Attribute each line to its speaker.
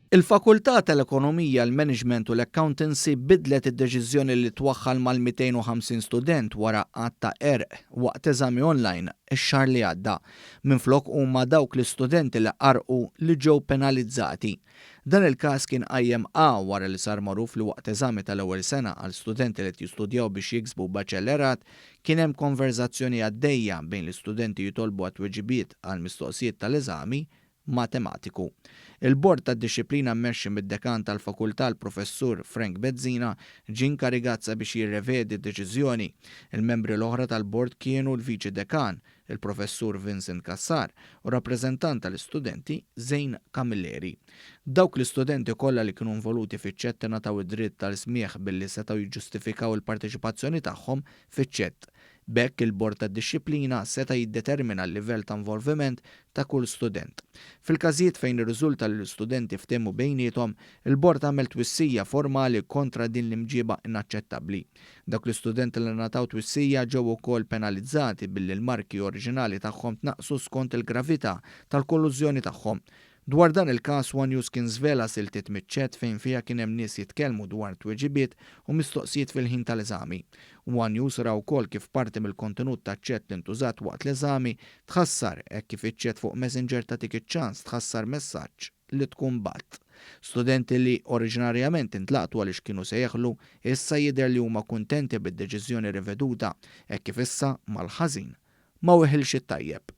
Speaker 1: Il-Fakultà tal-Ekonomija, l-Management u l-Accountancy biddlet id-deċiżjoni li twaħħal mal-250 student wara għadd ta' qerq waqt eżami online x-xahar li għadda. Minflok huma dawk l-istudenti li qarrqu li ġew penalizzati. Dan il-każ kien qajjem A wara li sar magħruf li waqt eżami tal-ewwel sena għal studenti li qed jistudjaw biex jiksbu baċellerat Kien hemm konverżazzjoni għaddejja bejn l-istudenti jitolbu għat-tweġibiet għall-mistoqsijiet tal-eżami Matematiku. Il-Bord tad-Dixxiplina mmexxi mid-Dekan tal-Fakultà l-Professur Frank Bezzina ġie inkarigat sabiex jirrevedi d-deċiżjoni. Il-membri l-oħra tal-Bord kienu l-Viċi Dekan, il-Professur Vincent Cassar u rappreżentant tal-istudenti, Zane Camilleri. Dawk l-istudenti kollha li kienu involuti fiċ-ċett ingħataw id-dritt għal smigħ billi setgħu jiġġustifikaw il-parteċipazzjoni tagħhom fiċ-ċett. B'hekk il-Bord tad-Dixxiplina seta' jiddetermina l-livell ta' involviment ta' kull student. Fil-każijiet fejn irriżulta li l-istudenti ftehmu bejniethom, il-Bord għamel twissija formali kontra din l-imġieba inaċċettabbli. Dawk l-istudenti li ngħataw twissija ġew ukoll penalizzati billi l-marki oriġinali tagħhom tnaqqsu skont il-gravità tal-kollużjoni tagħhom. Dwar dan il-każ, one News kien żvela siltiet miċ-chat fejn fiha kien hemm nies jitkellmu dwar tweġibiet u mistoqsijiet fil-ħin tal-eżami. One News ra wkoll kif parti mill-kontenut taċ-chat li ntużat waqt l-eżami tħassar hekk kif iċ-chat fuq Messenger tagħtik iċ-ċans tħassar messaġġ li tkun b'għadd. Studenti li oriġinarjament intlaqtu għaliex kienu se jeħlu, issa jidher li huma kuntenti bid-deċiżjoni riveduta hekk kif issa mal-ħażin ma weħilx it-tajjeb.